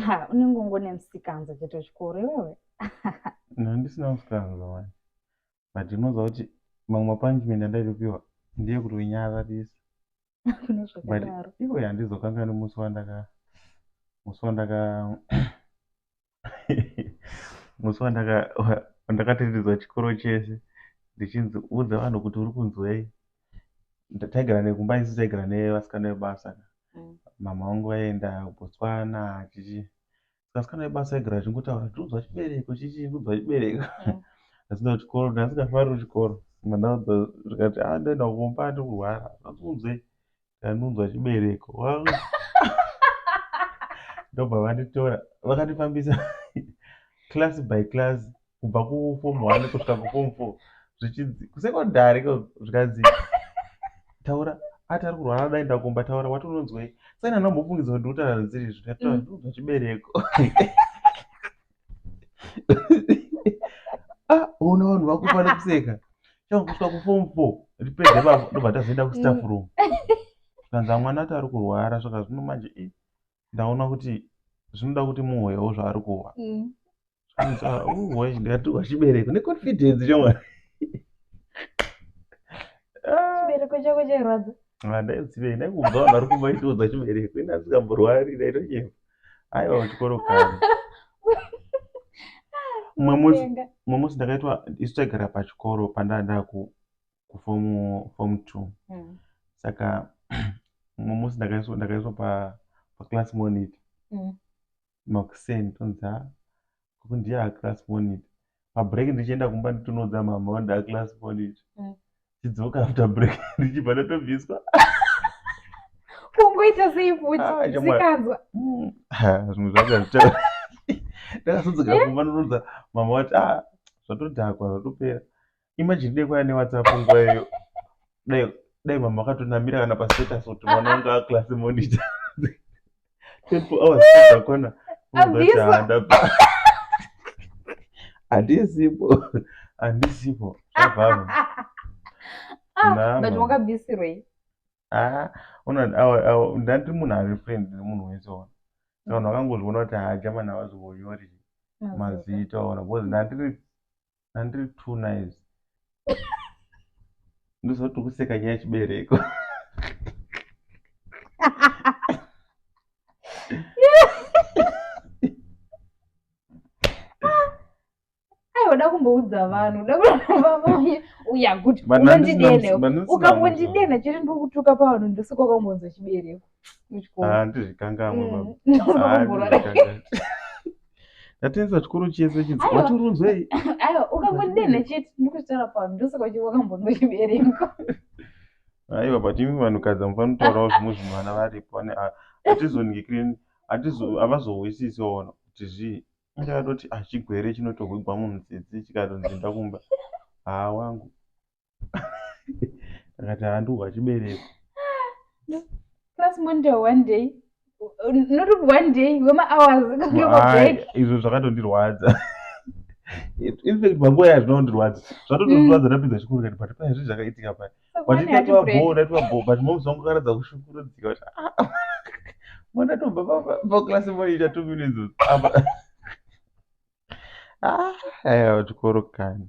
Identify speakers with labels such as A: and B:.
A: Ha, unenge ungone musikanza chete chikuru iwewe. No,
B: ndisina musikanza manje. But unoziva kuti mamwe mapunishment andaitopiwa ndiye kuti unyararisa. Kune
A: But zvakadaro.
B: iwe
A: handizokanganwi
B: musi wandaka musi wandaka musi wandakatendedzwa chikoro chese ndichinzi udza vanhu kuti uri kunzwei taigara nekumba isu taigara nevasikana vebasa mm. mama vangu vaienda botswana chichi vasikana vebasa vaigara vachingotaura ndiudzwa chibereko chichi ndiudzwa chibereko mm. asina kuchikoro ndasikafariri kuchikoro mandaudza zvikati a ah, ndaenda kumba ndikurwara aunzwei ndanunzwa chibereko wangu ndobva vanditora vakandifambisa class by class kubva kufom one kusvika kufom four zvichinzi kusecondary ko zvikanzi taura ati ari kurwara dai ndakumba taura wati unonzwei saina ndambofungidza kuti ndiutaradziri zvikatonzwa mm. chibereko ah, ona vanhu vakufa nekuseka chakusvika kuform four ripedze bavo ndobva tazoenda kustaff room kanza mwana ati ari kurwara saka zvino manje e ndaona kuti zvinoda kuti muhoyawo zvaari kuhwa mm. ah, uhoya ndikatuhwa chibereko neconfidence chomwana
A: chibereko chako chairwadza ndaizive
B: ndaikubva vanhu vari kumaitoudza chibereko ini asikamborwari ndaitochema aiwa kuchikoro kare mumwe musi ndakaitwa isu taigara pachikoro pandaandaa kufomu two hmm. saka mumwe musi ndakaiswa paclass monitor hmm. makuseni tonzi Gogo ndiye a class monitor. Pa break ndichienda kumba nditonoudza mama kuti nda class monitor. Mm. Tidzoka after break ndichibva ndatobviswa.
A: Kungoita sei futi? Ah, chama- Zvikanzwa. Mm. Ha,
B: Zvinhu zvacho hazvita. Ndakazodzoka kumba ndonoudza mama kuti ah zvatodhakwa zvatopera. imagine dai kwaya newhatsapp nguva iyoyo dai dai mama akatonamira kana pastatus kuti mwana wanga aclass monitor 24 hours dzakona unobatandaba handisipo handisipo zvabvaro but
A: wakabvisirwei ah,
B: ndandiri munhu ari friend nemunhu wese ona vanhu vakangozviona kuti haja mani havazongonyori mazita ona because ndandiri andiri two knives ndozoti kuseka nyaya chibereko
A: aiwada kumboudza vanhu uda uya kuti unondidene ukangondidena chete ndikutuka pavanhu ndosikoka kumbonza chibereko handizvikangamwe
B: ndatenza chikoro chese chinzi waturunzwei aiwa ukangodenha
A: chete ndikutaura pano ndosaka uchi wakambonwa
B: chibereko aiwa but imi vanhukadzi amufanotaurawo zvimwe zvinhu vana varipo ane hatizoningikireni havazohwisisi waona kuti zvii inge atoti ah, chigwere chinotohwigwa munhu tsitsi chikatonzi ndakumba haa wangu akati handihwa chibereko
A: plus monday one day not one day wemahours izvo
B: zvakatondirwadza infact panguva yayo zvinondirwadza zvatotondirwadza mm. ndapedza chikoro kati pati paizvi zvakaitika pai but ndati wabhoo ndati wabhoo but moms wangu karatidza kushukurudzika kuti ah, mwana tobva paklasi moita two minutes ah, aiwa chikoro kani